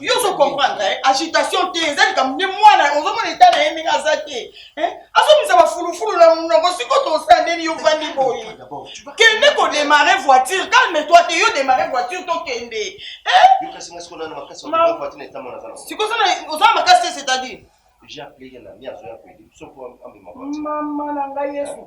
yo ozo comprendre eh? agitation te eza likambo nde mwana ozomona eta na ye ndenge aza te eh? azomisa bafulufulu na monoko siko tosa ndeni yo vandi boye kende kodemare voiture calme toi te yo demare voiture tokende eh? siko oza na makasi te c'est-à-dire mama na ngai yesu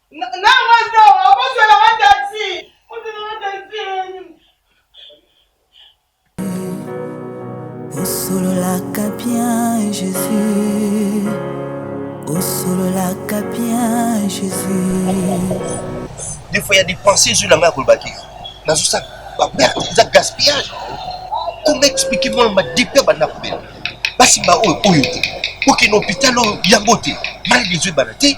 osololaka bien jésus osololaka bien jésus defo ya dépense ezwi na ngai ya kolobaki nazosala baperte eza gaspillage koma explike mwana madepe ya banda kobela basimba oyo oyo te okende hôpital oyo yango te maladi ezwi bana te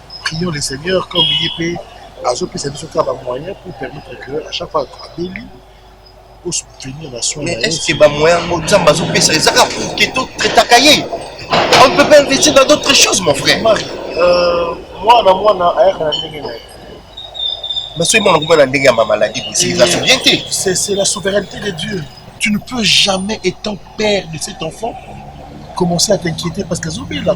Prions le Seigneur comme ye mpe azopesa biso kaka ba moyens pour permettre que à chaque fois abeli o soutenir na soin mais est ce que ba moyens ngo nzambe azopesa eza kaka pour que to traitaka ye on ne peut pas investir dans d'autres choses mon frère euh, mwana mwana ayaka na ndenge na ye mais soki mwana komona ndenge ya mamaladi bosi eza souvien te c'est la souveraineté de dieu tu ne peux jamais étant père de cet enfant commencer à t'inquiéter parce qu'azobela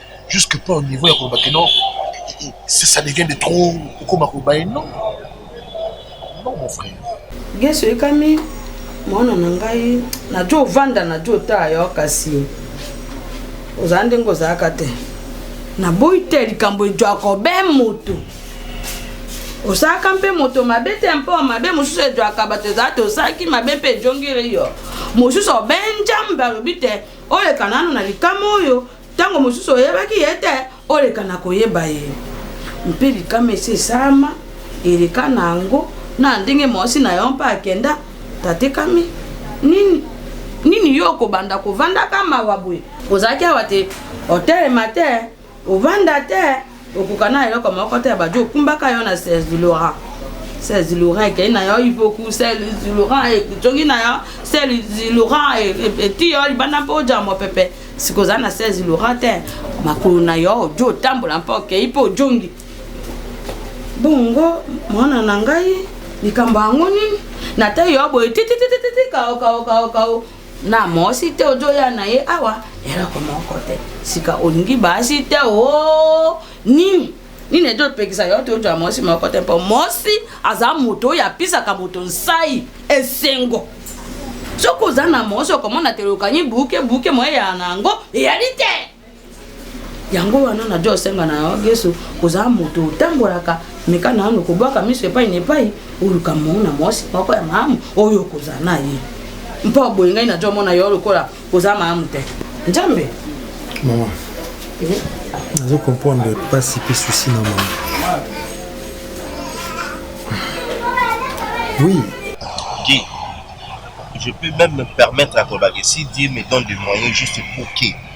jusque pas au niveau ya koloba ke non ça, ça devient de trop okoma koloba ye non non mon frère geso ekami mwana na ngai najo ovanda najo otaa yo kasi ozala ndenge ozalaka te naboyi te likambo ejwaka obe moto osalaka mpe moto mabe te mpo mabe mosusu ejwaka bato ezala te osalaki mabe mpe ejongeli yo mosusu obe njambe alobi te oleka nano na likama oyo Ntango mosusu oyebaki ye te, oleka na koyeba ye. Mpe likama esi esalama eleka na yango, na ndenge mwasi na yo mpe akenda, tatekami. Nini, nini yo okobanda kovandaka mawa boye? Ozalaki awa te, otelema te, ovanda te. okoka na eloko moko te ya bajo okumbaka yo na serge laurent serge laurent ekei na yo ipoku serge laurent ejongi na yo serge laurent eti yo libanda mpo oja mopepe sikoyo oza na serge laurent te makolo na yo ojo otambola mpo okei mpo ojongi bongo mwana na ngai likambo yango nini natayi yo boye tititititi kao kao kao kao na mosi te ozoya na ye awa eloko moko te sika olingi basi te o oh, nini nini ezopekisa yo te ozwa mosi moko te mpo mosi aza moto oyo apisaka moto nsai esengo soki oza na mosi okomona te lokangi buke buke moye ya na yango eyali te yango wana na jo senga na yo yesu ozala moto otambolaka meka nanu kobwaka miso epai na epai oluka moko na mwasi moko ya malamu oyo okozala na ye mpo boye ngai na jo mona yo lokola oza malamu te nzambe mama eh? nazo comprendre mpasi mpe susi na mama oui okay. je peux même me permettre à Kobakesi dire me donne des moyens juste pour que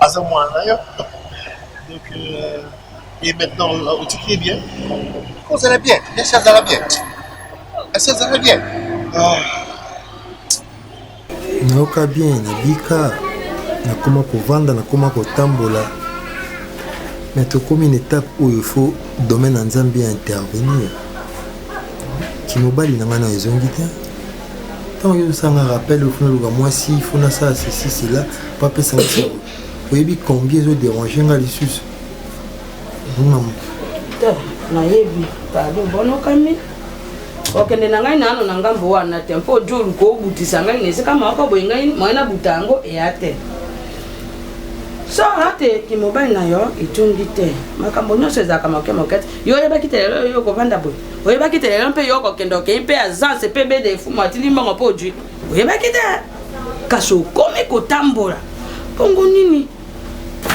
aza mwana na yo donc euh, et maintenant euh, otiki ye bien kozala bien esi azala bien esi azala bien ah. nayoka bien nabika nakoma kovanda nakoma kotambola me tokomi na etape oyo fo domaine ya nzambe ya intervenir kimobali na ngai nayo ezongi te ntango yo osanga rappel il faut naluka mwasi il faut nasala ceci cela po apesa nga sango oyebi combien ezo dérange nga lisusu mama nayebi pardon bonokami okende na ngai nano na ngambo wana te mpo ojo oluka obutisa ngai na esika moko boye ngai moye nabuta yango eya te sora te kimobali na yo etungi te makambo nyonso ezalaka moke moke te yo oyebaki te lelo oyo okofanda boye oyebaki te lelo mpe yo okokende okei mpe azanse mpe bede efumu atindi mbongo mpo ojui oyebaki te kasi okomi kotambola bongo nini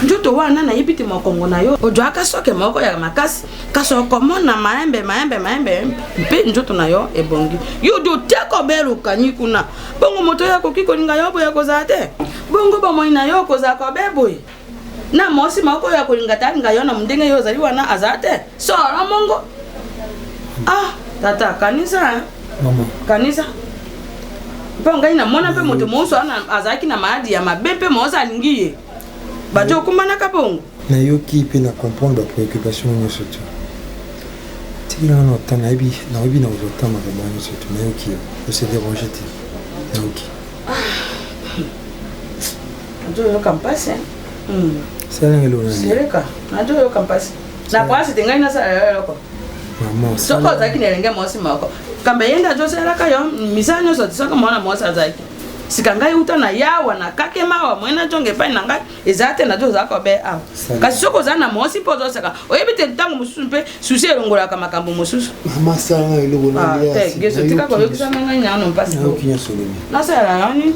nzoto wana nayebi te mokongo na yo ojwaka soke moko ya makasi kasi okomona maembe maembe maembe mpe nzoto na yo ebongi yo odi oteka obelukani kuna bongo moto oyo akoki kolinga yo boye kozala te bongo bomoi na yo okozala kobe boye na mwasi moko oyo akolinga te alinga yo na ndenge yo ozali wana aza te sora mongo ah tata kanisa kanisa mpo ngai namona mpe moto mosusu wana azalaki na maladi ya mabe mpe mosusu alingi ye bato okumanaka bongo nayoki mpe na comprendre bapreoccupation nyonso te tikila wana ota nayebi nayebi na kozwa ntango makambo wana nyonso te nayoki yo ose dérange te nayoki ah. nazoyoka mpasi eh. hmm. seleka nazoyoka mpasi na pasi te ngai nasala yo eloko soki ozalaki na elenge mwasi moko kamba ye nde azosalelaka yo misala nyonso tisaka mwana mwasi azalaki sika ngai uta na yawa na kake mawa moye najonga epai na ngai eza te nazo ozalaka obe awa kasi soki oza na mwasi mpo ozosaka oyebi te ntango mosusu mpe susi elongolaka makambo mosusu ah, tika koyokisana ngai nyano mpasi nasalelaka nini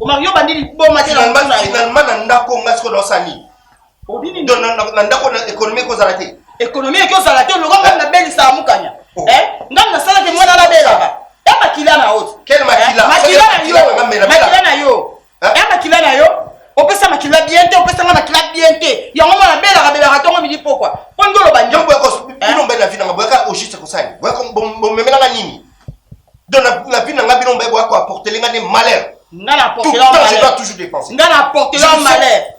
omario bandi liboma te finalement na ndako nga sikoyo naosala nini na ndako na ekonomi ekozala te ekonomi ekozala te lokola ngai nabelisaka mukanya oh. eh? ngai nasalaki mwana nabelaka ya eh, makila na oti eh, makila na yo eh? ya makila na yo opesa makila bien te opesa nga makila bien te yango mwana belaka belaka tongo midi pokwa mpo nde oloba ndio boyaka eh? bino mbele na vi nanga boyaka ojuste kosali boyaka bomemelanga nini donc na vi nanga bino mbe boyaka aportele nga nde malheur nga na portele nga na portele malheur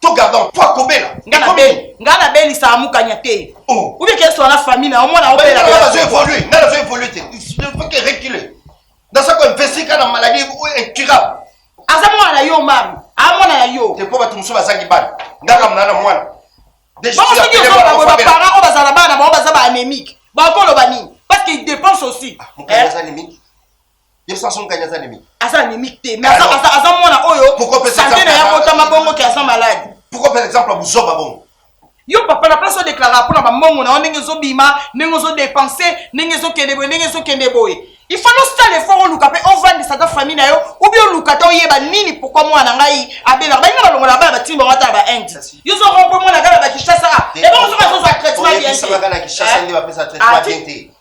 to gardan po akobela nga nabelisa amukanya te oh. oubie keswa na famille na omona obelabazo évolue nga nazo évolue te foke recule naza ko investi ka na maladie incurable aza mwana na yo mari amwana na yo te po bato mosusu bazangi bana nga kamona na mwana soki ozoloba boye baparent oyo bazala bana bango baza ba anémique bakoloba nini parce que dépense aussi ah, de toute façon kanya aza anemique aza anemique te mais aza aza aza mwana oyo santé na ya botama bongo ke aza malade pourquoi par exemple buzoba bongo yo papa na place odeklara mpo na bambongo na yo ndenge ezobima ndenge ozodepense ndenge ezokende boye ndenge ezokende boye il faut nosala effort oluka mpe ovandisa ta famille na yo obi oluka te oyeba nini pourkui mwana na ngai abelaka balinga balongola bana batini bango ata na bainde yo ozoko mpo mwana ngai na bakishasa ebongo soki azozwa traitement bien te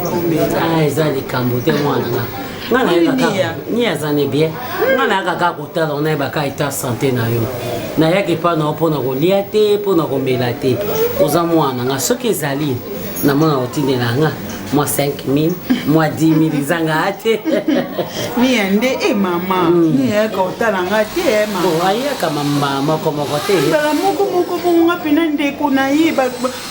ah eza likambo te mwana nga nga nayebaka ni aza ne bien nga nayaka kaka kotala ngo nayebaka eta sante na yo nayaka epai na yo mpo na kolia te mpo na komela te oza mwana nga soki ezali namona kotindela nga mwa 5000 mwa 10000 eza nga te miya nde e mama niyaka hmm. otala nga te eh, mama ayaka mama moko moko te mbala moko moko bongo nga mpena ndeko na ye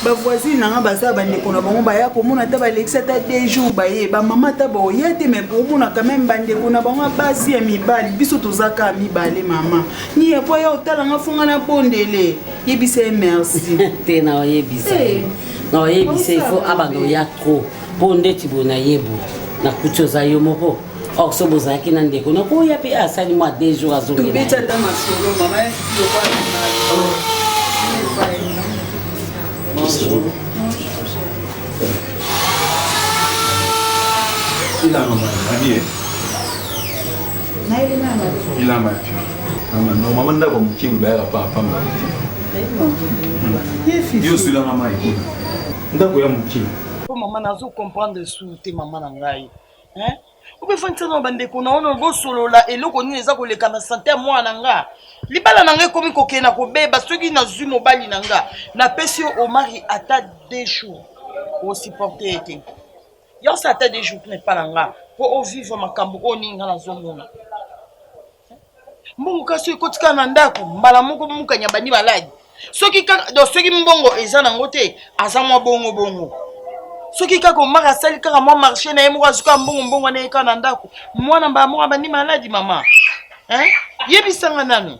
ba voisine na nga baza bandeko na bango baya komona ata balekisi ata de jour baye bamama ata baoya te mai komona quand même bandeko na bango basi ya mibali biso toza kaka mibale mama ni yapo ya otala nga fonga na bondele yebisa ye merci te na oyebisa eh. na oyebisa ifo abanda oya trop mpo ndeti boye nayebu nakuti oza yo moko or so bozalaki na ndeko nakoya mpe asali mwa deux jours azongelobeta masolo mama ya Bonjour. Ilama mabie. Ilama pio. Mama no mama ndako mokimi bayaka pa pamba. Yo sila mama ikuna. Ndako ya mokimi. Po mama nazo comprendre su te mama na ngai. hein obefandisa na bandeko na ono bosolola eloko nini eza koleka na sante ya mwana na nga libala na nga ekomi kokende na kobeba soki nazwi mobali na nga napesi yo omari ata de jour osupporte ye te yose ata de jour na epa na nga mpo ovivre makambo oyo nini nga nazomona mbongo kasi ekoti kaka na ndako mbala moko mukanya bandi baladi soki kaka donc soki mbongo eza nango te aza mwa bongo bongo soki kaka omaka asali kaka mwa marché na ye moko azuka mbongo mbongo wana yeka na ndako mwana mbala moko abandi maladi mama yebisanga nanu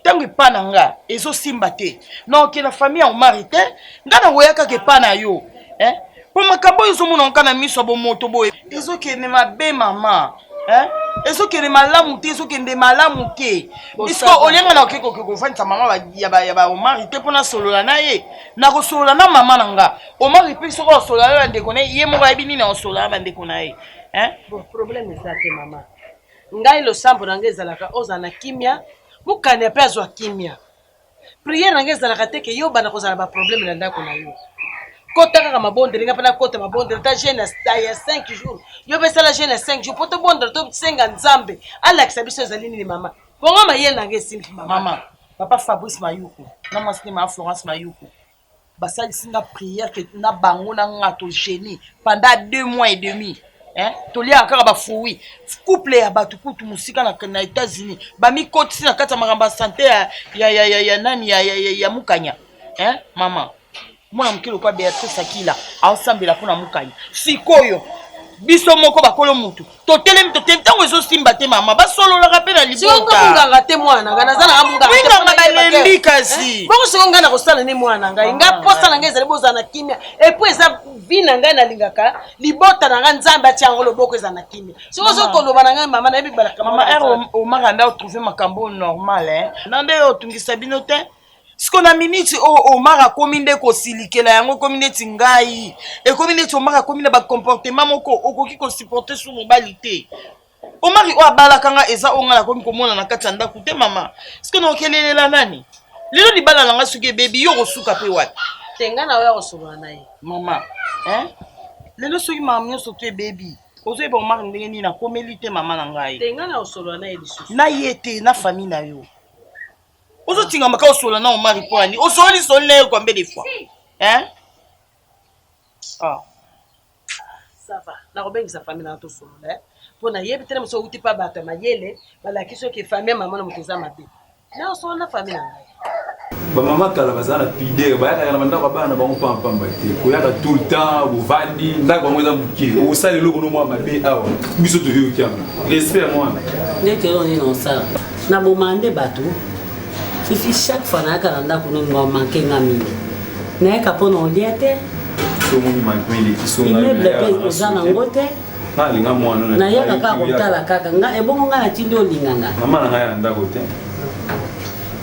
ntango epa na nga ezosimba te naoke na famille ya omari te nga nakoya kaka epa na yo eh? mpo makambo oyo ezomonaka kaka na miso ya bomoto boye ezokende mabe mama eh? ezokende malamu te ezokende malamu te iske olenga na oke koke kofandisa mama ya baomari te mpo nasolola na ye nakosolola na mama na nga omari mpe soki osolola na bandeko na ye ye moko ayebi nini akosolola na bandeko na ye eh? bon problème eza te mama Ngai losambo na ngai ezalaka ozala na kimia mukania pe azua kimia prière na ngai ezalaka te ke yo banda kozala ba problème na ndako na yo kota kaka mabondeli ngai pe nakota mabondeli ta jeune ya 5 jours yo pe sala jeune ya 5 jours po tobondela tosenga nzambe alakisa biso ezali nini mama bongo mayele na ngai esimbi mama mama papa fabrice mayuku na mwasi ne mama florence mayuku basalisi nga prière que na bango na nga to génie pendant deux mois et demi hein? toliaka kaka bafruit couple ya bato kutu mosika na, na états-unis bamikotisi na kati ya makambo ya sante ya, ya, ya, ya, ya nani ya, ya, ya, ya mukanya hein? mama mwana moke lokola beatrice akila aosambela mpo na mukanya sikoyo biso moko bakolo motu totelemi totelemi ntango ezosimba te mama basololaka mpe na libotanganga te mwana ngai naza nanga monganga balembi eh, kasi bongo soko ngai nakosala ne mwana ngai ngai mposa na ngai ezali bozala na kimia epuis eza vi na ngai nalingaka libota na ngai nzambe atia yango loboko ezala na kimia soko ozo koloba na ngai mama nayebi balaka mama omaka nda otrouve makambo normal eh? na nde otungisa bino te siko na miniti oyo oh, omar akomi nde kosilikela yango ekomi neti ngai ekomi neti omar akomi na bacomportement moko okoki kosupporte su mobali te omari oyo abalaka nga eza oyo ngai nakomi komona na kati ya ndako te mama siko na okelelela nani lelo libala na ngai soki ebebi yo okosuka mpe wapi te ngai na oyo akosolola na ye mama eh? lelo soki makambo nyonso to ebebi ozoyeba omari ndenge nini akomeli te mama na ngai te ngai na osolola na ye lisusu na ye te na famille na yo ozotingama kaka osola na omari mpo ya nini osoli soli na ye combien de fois hein ah. sava nakobengisa famille na tosolola eh? mpo nayebi tele mosu outi mpa bato ya mayele balaki soki famille mama na moto eza mabe na osolo na famille na ngai bamama kala baza na pidere bayakaka na bandako ya bana bango pampamba te koyaka tout le temps bovandi ndako bango eza moke osala eloko no mwa mabe awa biso toyoki yango respect ya mwana ndete oyo nini osala Na boma nde bato. Fifi chaque fois na yaka na ndako no ngo manque nga mingi. Na yaka po na olia te. Somo ni manque mingi kisonga. Immeuble pe oza na ngo te. Na linga mwana na. Na yaka ka kotala kaka nga ebongo nga na tindi olinga nga. Mama na nga ya ndako te.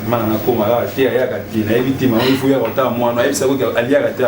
Mama na nga koma la te ayaka te na yebi te mama ifu ya kotala mwana ayebisa ko aliaka te.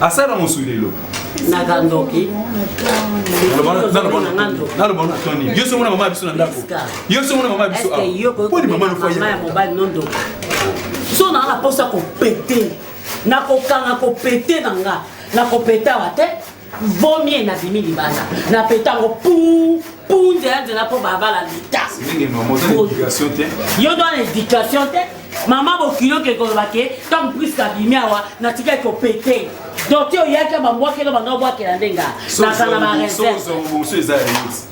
asala mosu lelo naka ndoki naloba na toni yo soki mona mama ya biso na ndako yo soki mona mama ya biso poni mama ya mobali no ndoki so naa na mposa kopete nakokanga kopete na nga nakopetawa te Vaut mieux na bimi libanda na petango pou pou nzela nzela mpo babala leta yo dona éducation te mama bokilo oke koloba ke ntango priske abimi awa natikaki kopete donc te oyaki bambwakelo banga obwakela nde nga nazala bareserve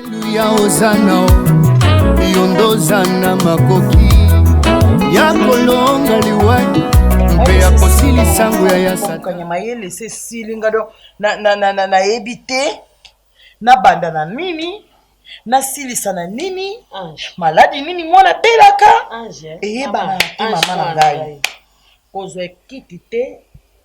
Aleluya ozana yo nde ozana makoki ya kolonga liwa mpe ya kosilisa nguya ya satana mayele se esili nga do nayebi te nabanda na nini nasilisa na nini maladi nini mwana abelaka eyebana te mama na ngai Kozwa ekiti te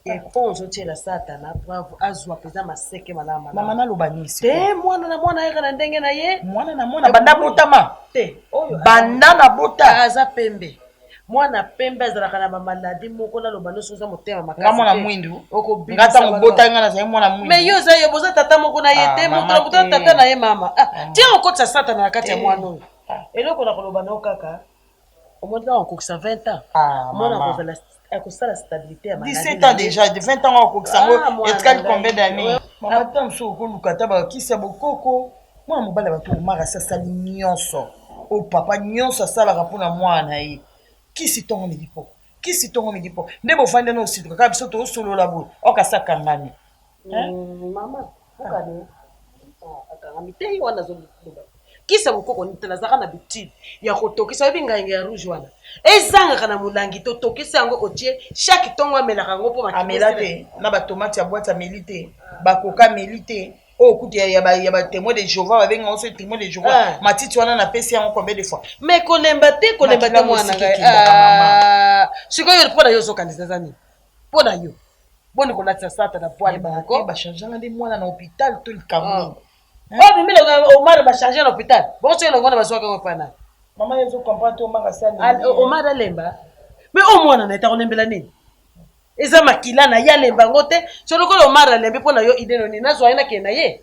et po ozo tiela satana preuve azwa peza maseke malala malala. Maman naloba nini sikoyo. Te mwana na mwana ayaka na ndenge na ye. Mwana na mwana banda abotama? Te oyo banda na bota? Aza pembe. Mwana pembe azalaka na ba maladie moko naloba no soki oza motema makasi te. Nga mwana mwindu. Nga tango obotaki nga nazali mwana mwindu. Mais yo oza yo boza tata moko na ye te moto na moto na tata na ye mama. Tia okotisa satana na kati ya mwana oyo. Eloko na koloba na yo kaka. omoni ntango akokisa 20 ans ah, mwana akozala akosala stabilité ya maladi 17 ans déjà 20 ans akokisa yango ah, etikali combien d'année mama ta mosusu okoluka ata bakisi ya bokoko mwana mobali ya bato omaka asi asali nyonso o oh, papa nyonso asalaka mpo na mwana na ye kisi ntongo midi mpo kisi ntongo midi mpo nde bofandi na osituka kaka biso tosolola boye okasi akangami Hein? Mm, mama kokani akangami te ye wana azoloba kisa mokoko nite nazalaka na bitide ya kotokisa oyebi ngainga ya rouge wana ezangaka na molangi totokisi yango otie chaque ntongo amelaka yango mpo amela te na batomate ya bwati ameli te bakoka ameli te oyo oh, kutu ya batemoin de jehova babenga yango soki temoin de jehova ah. matiti wana napesi yango combien de fois mais kolemba te kolemba te mwana ah. sikoyo mpo na yo ozokanisa eza nini Mpo na yo boni kolatisa sata na poil moko? Ba charge nga nde mwana na hôpital to likambo nini? Ah. Oyo bimile Omar ba charge na hôpital. Bo soki longo na bazwaka ngo pana. Mama yo zo comprendre to Omar asali. Omar alemba. Mais o mwana na etako lembela nini? Eza makila na ya lemba ngo te. Solo ko Omar alembi mpo na yo idée nini? Nazwa ye na kenda ye.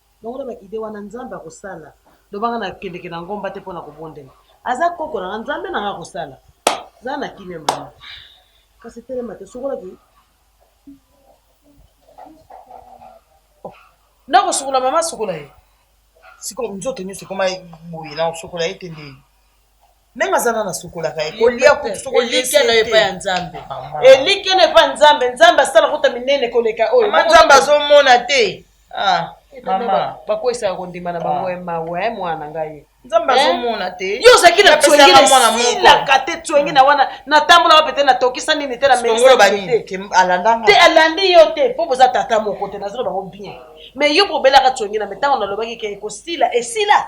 Longola ba idee wana nzambe akosala loba nga na kendeke na ngomba te pona kobondela aza koko na nga nzambe na nga akosala zala na kimia mama kasi telema te sokola ki oh, na kosukola mama sukola ye sikoyo nzoto nyonso ekoma boye na kosukola ye te nde meme aza nana asukolaka ye kolia kutu soki elikya na epai ya nzambe elikya na epai ya nzambe nzambe asala kota minene koleka oyo ma nzambe azomona te ah, mama bakwesaka kondima na bango ah. mawa eh, mwana ngai nzambe eh? azomona te yo ozalaki na tswengesilaka te tswenge na wana natambolaka mpe te natokisa nini te nameisate alandi yo te mpo boza tata moko te nazoloba bango bien mais yo bobelaka tswenge na me ntango nalobaki ke ekosila esila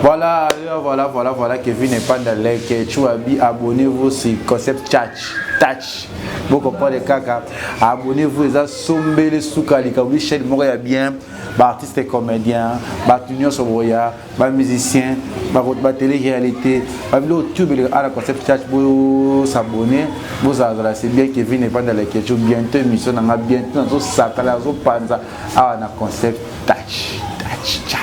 Voilà, voilà, voilà, voilà, Kevin et Panda Lake, Chouabi, abonnez-vous sur Concept Church. touch bokoprendre kaka abonnez-vous eza sombele suka likambo chaîne moko ya bien baartiste comédien bato nyonso boya ba musicien ba télé réalité ba bilo tube le ala concept church bo s'abonner bo zazala c'est bien Kevin et panda la question bientôt émission na nga bientôt na zo sakala zo panza awa na concept touch touch touch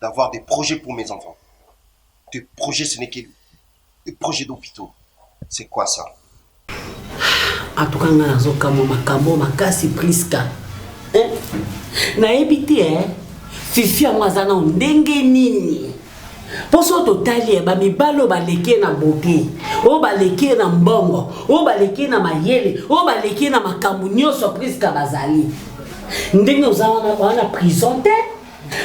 d'avoir des projets pour mes enfants. Des projets, ce n'est que des projets d'hôpitaux. C'est quoi ça En tout cas, nga nazo kamo makambo makasi Prisca. Hein? Nayebi te hein. Fifi yango aza na ndenge nini? mpo soki totali ye bamibali oyo baleki ye na bote oyo baleki ye na mbongo oyo baleki ye na mayele oyo baleki ye na makambo nyonso priska bazali ndenge oza wana wana prison te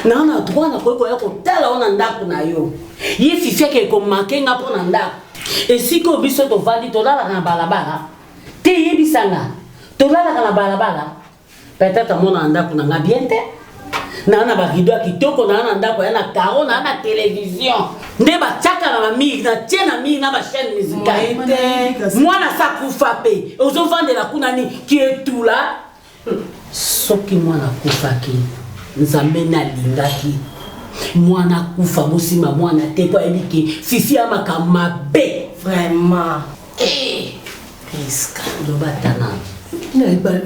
na na droit na koki koya kotala yo na ndako na yo ye fifi akei komake nga mpo na ndako esika oyo biso tovandi tolalaka na balabala te yebisa nga tolalaka na balabala peut-être amona na ndako na nga bien te naa na barido ya kitoko naa na ndako ya na caro naa na televizio nde batiaka na bamiri na tie na miri na bachaine musicale mwana sa kufa mpe ozovandela kuna nini kietula Soki mwana akufaki nzambe nde alingaki mwana akufa bosimba mwana te po ayebi ke fifi ya makambo mabe vraiment eh, priska loba tana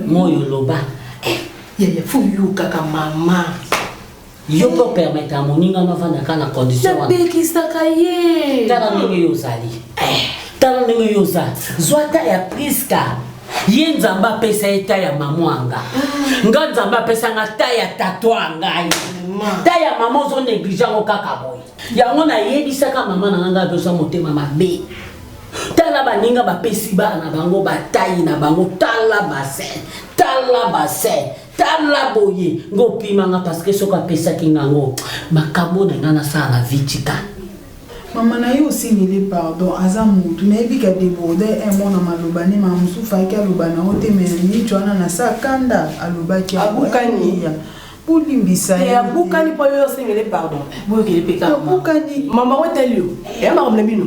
moyo loba eh, yaya fo yokaka mama Yo mpe opermetaka moninga no avanda kaka na condition wana. Napekisaka ye. Tala ndenge yo ozali. Eh. Tala ndenge yo oza. Zwa ta ya Priska. Ye Nzambe apesa ye ta ya mama anga. Ah. Nga Nzambe apesa nga ta ya tato angai. Ta ya mama ozo neglige yango kaka boye. Yango nayebisaka mama na nga nga adosa motema mabe. Tala baninga bapesi bana na bango batayi na bango tala bassin tala bassin tala boye ngo opima nga parce que soki apesaki nga ngo makambo na nga nasala na vie tika mama na ye osengeli pardon aza motu nayebi ka deborde un mot na maloba nde mama mosusu faki aloba na yo te me miniti wana na sa kanda alobaki abukaniya bolimbisa ye abukani mpo yo osengeli pardon boyokeli mpe kaka abukani mama oteli yo eyamaka mna bino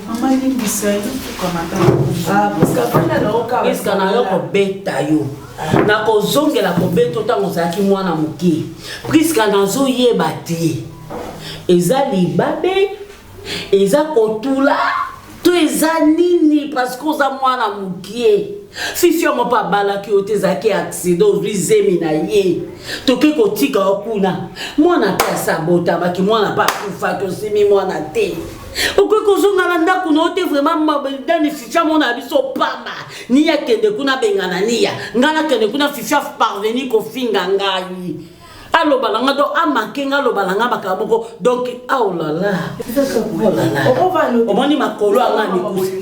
Mama limbisa yo kokamata ah, priska na yo kobeta yo nakozongela kobeta yo ntango ozalaki mwana moke priska nazoyeba te eza libabe eza kotula to eza nini parceke oza mwana mokie fifi yango mpe abalaki yo te ezalaki aksida ozwi zemi na ye toke kotika yo kuna mwana mpe asabotamaki mwana mpe akufaki osimi mwana te okoki kozonga na ndako na yo te vraiment dani fifi amona biso pamba niya akende kuna abengana niya ngai nakende kuna fifi aparveni kofinga ngai aloba na nga donc amake nga aloba na nga makambo moko donc aolala oh omoni makolo anga mikusi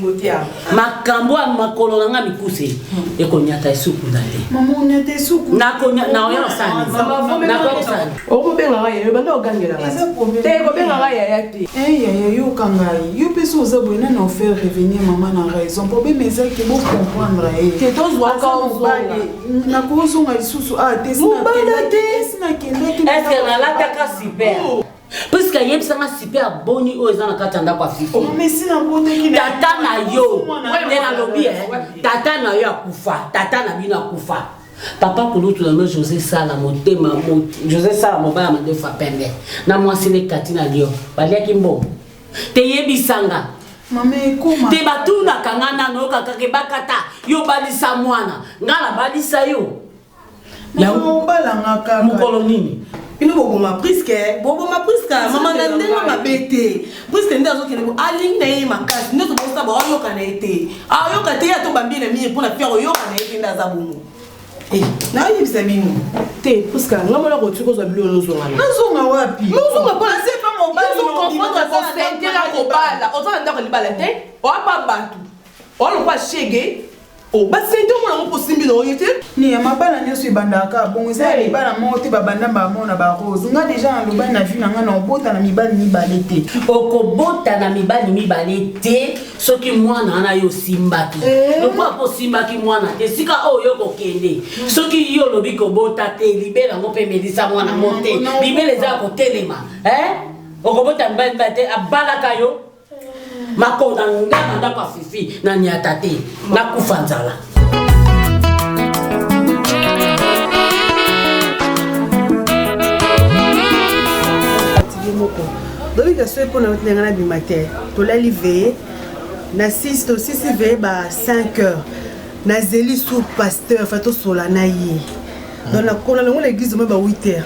makambo ya makolo na nga mikuse ekonyata esuku na te okobenga nga yayo banda ogangela te ekobenga nga yaya te yaya yoka ngai yo mpe so oza boye nani ofaire revenir mama na raison problème eza ke bocomprendre ye te tozwaka mobali nakozonga lisusu a te sinakendaki eske nalataka super Parce que ayebisa nga super boni oyo eza na kati ya ndako ya fifi. Oh, tata na yo nde nalobi eh. tata na yo akufa tata na bino akufa papa kulutu na no josé sala motema josé sala mobaya mandefu ya pembe na mwasi nde kati na lio baliaki mbongo teyebisanga te batunaka nga nano okakake bakata yo balisa mwana nga nabalisa yo Yango obala nga kaka. Mukolo nini? bino boboma priske eh? boboma priske ah, mama na ndenge mabe te priske nde azokende bo alingi na ye makasi nde tobosa ba ayoka na ye te ayoka te ye atobambi na mire mpo na fiere oyoka na ye te nde aza bongo eh, nayebisa bino te priske nga mona koki kozwa bilo nozonga nazonga wapi nozonga mpo nase pa mobalikokonfondre kobala oza na ndako libala te oapa bato oalokola shege Oh ba sente omona ngo po simbi na oye te. Ni ya mabala nioso ebandaka kaka bongo eza ya libala moko te babanda mbala moko na ba rose nga deja na lobani na vie na nga na obota na mibali mibale te okobota na mibali mibale te soki mwana wana yo osimbaki Eh. lokola mpo osimbaki mwana te esika oyo yo kokende soki yo olobi kobota te libela yango mpe melisa mwana yango te Mm, non, libela eza ya kotelema eh? okobota mibali mibale te abalaka yo makonda nga na ndako ya fifi na niata te nakufa nzala moko dobika soki mpo na otinanga na bima te tolali veye na 6 tosisi veye ba 5 heures nazeli sur pasteur fa tosola na ye donc nakona nango na église omoi ba 8 heures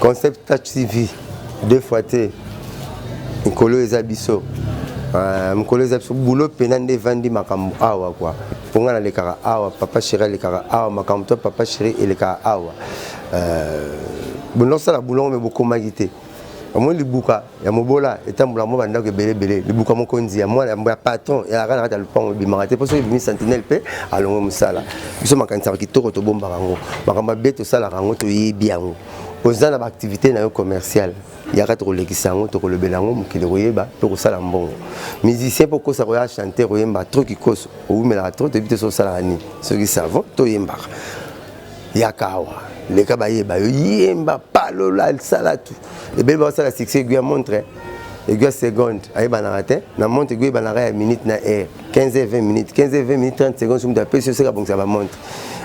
Concept Touch TV deux fois te mokolo eza biso ah, mokolo eza biso bulo mpena nde evandi makambo awa kua mpo ngai nalekaka awa papa sheri alekaka awa makambo to papa sheri elekaka awa euh, bondosala bulongo me bokomaki te omoni libuka ya mobola etambola mwa bandako ebele ebele libuka mokonzi ya mwana ya patron eyaka na kati ya lopango ebimaka te mpo soki ebimi sentinelle mpe alongo mosala biso makanisaka kitoko tobombaka yango makambo mabe tosalaka yango toyebi yango oza na baaktivité na yo commerciale yaka tokolekisa yango tokolobela yango mokili koyeba mpe kosala mbongo musicien mpo okosa koya chanteur oyemba tro kikoso owumelaka tro toyebi te soki osalaka nini soki savon toyembaka yaka awa leka bayeba yo yemba palola salatu ebele bakosala succès egui ya montre egui ya seconde ayebanaka te na montre egui eyebanaka ya minute na heure 15 heure 20 minutes 15 heure 20 minutes 30 secondes soki moto apesi yo seka bongisa bamontre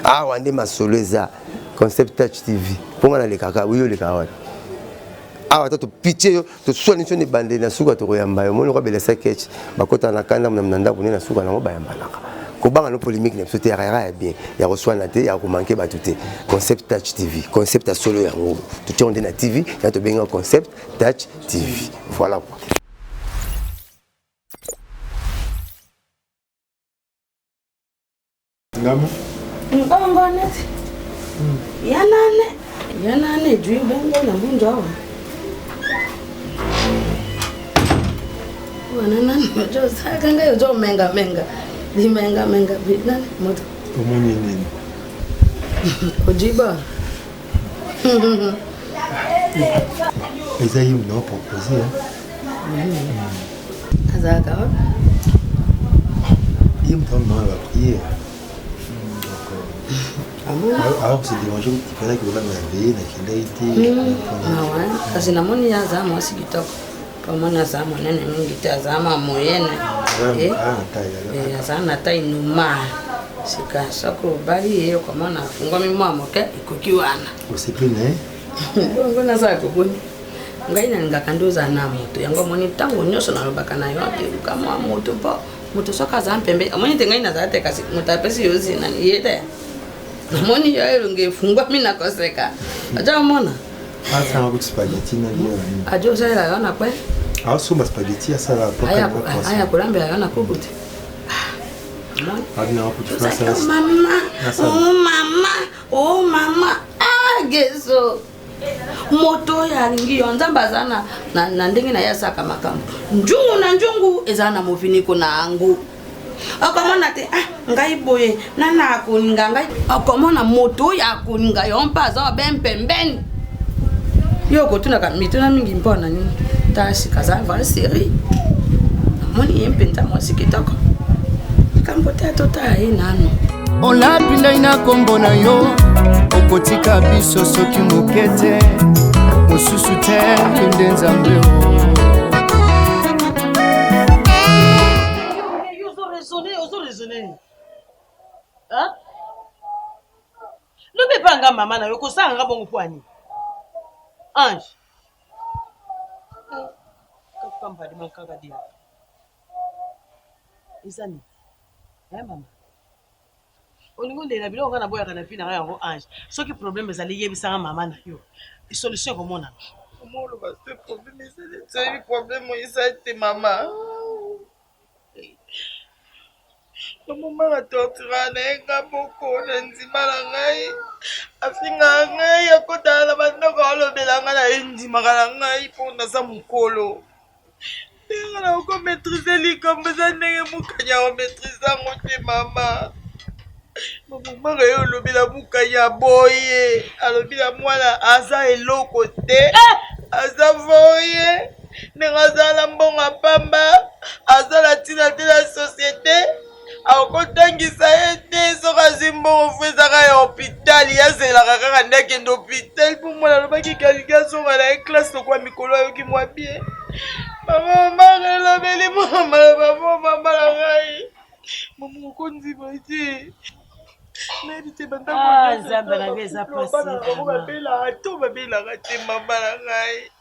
awa nde masolo eza concept touch tv mpo nga nalekaka yo olekaka wapi awa ata topitie yo toswani nso na ebandeli na suka tokoyamba yo moni okabela sakech bakotana na kanda mna na ndako nde na suka nango bayambanaka kobanga no polémique na biso te yaka ya bien ya koswana te ya komanke bato te concept touch tv concept ya solo yango totiango nde na tv ya tobenga concept touch tv voilà quoi Ngama. Mbongo net. Hmm. Yanane. Yanane jui bongo na mbunjo awa. Wana nani mojo saka ngai ojo menga menga. Di menga menga bi nani moto. Omoni nini? Ojiba. Eza yo na proposer. azalaka wapi ye moto amanga la prière alors se dérange ipanaki olanga ya veye nakendaki te kasi namoni ye aza mwasi kitoko pamoni aza monene mingi te aza ma moyene aza na tai noma sika soki obali ye okomona afungwami mwa moke ekoki wana osepeli na ye bongo nazala koboni ngai nalingaka nde ozala na moto yango omoni ntango nyonso nalobaka na yo apeluka mwa moto mpo moto soki aza mpembe omoni te ngai nazala te kasi moto apesi yo zina ye te namoni yo elongi efungwami na koseka aja omona aja osalela yo na kwe asomba spageti asala aya kolambela yo na kuku te mama o mama o mama ah, geso moto oyo alingi yo nzambe aza na, na, na ndenge na ye asaka makambo njungu na njungu eza na moviniko na yango okomona te ah, ngai boye nana akolinga ngai okomona moto oyo akolinga yo mpe aza obe mpembeni yo okotunaka mituna mingi mpo na nini tasi kaza vrai serie namoni ye mpenza mwasi kitoko likambo te atotala ye nano olapi ndai na nkombo na yo okotika biso soki moke te mosusu te nde nzambe lobi epa nga mama na yo kosala nga bongo pwani ange kapambadima kaka dia eza nini eh mama olingi olela biloko kaka naboyaka na vi na ngai yango ange soki problème ezali yebisaka mama na yo solution ekomonana omoloba te problème ezali toyebi problème eza te mama Mama na tortura na ye nga moko na ndima na ngai afingaka ngai akotala na bandako alobela ngai na ye ndimaka na ngai mpo naza mokolo ndenge na oko maîtrise likambo eza ndenge mokanya omaîtrise yango te mama mamaka ye olobela mokanya boye alobi na mwana aza eloko te eh! aza voye ndenge azala na mbongo ya pamba aza na ntina te na societe akotangisa ye te soki azwi mbongo fo ezaka ya hopitali azelaka kaka nde akende hopitali mpo mwana alobaki kalingi azonga na ye klase lokola mikolo ayoki mwa bie mama mamaka elobeli mwana maloba mo mama na ngai mama okondima te nayebi te bandakobabelaka ah, to babelaka te mama na ngai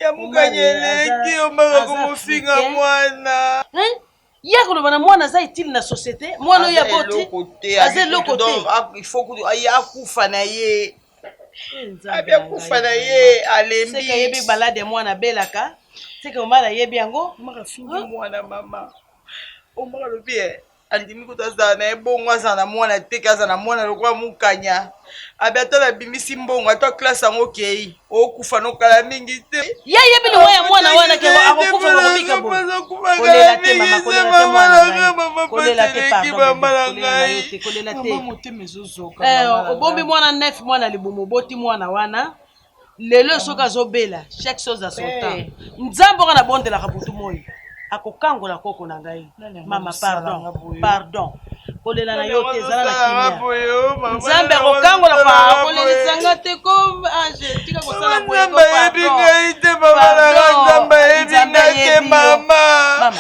ya mokani eleki omaka komofinga mwana eh? ya koloba na mwana aza etile na société mwana oyo aboti aza eloko te ah, akufa na ye eh, abi akufa na ye alembi yebi balade ya mwana abelaka seke omala ayebi yango omaka fingi mwana mama omaka lobi eh, andimi kutu azala na ye bongo azala na mwana te ke azala na mwana lokola mokanya abi ata nabimisi mbongo ata klase yango okei okufa nokala mingi te ye ayebi liwa ya mwana wana ke akokufa bakobika bokolela te mama kolela te mwana ngai kolela te pardon motema ezozoka eh, obombi mwana nef mwana libumu oboti mwana wana lelo oyo soki azobela chaque chose à son temps nzambe oka nabondelaka butu moi akokangola koko na ngai mama pardon pardon kolela na yo te ezala na kimia nzambe akokangola pa kolelisa nga te ko age ah, tika kosala boyebi ngai te mama nanga nzambe ayebi ngai te mama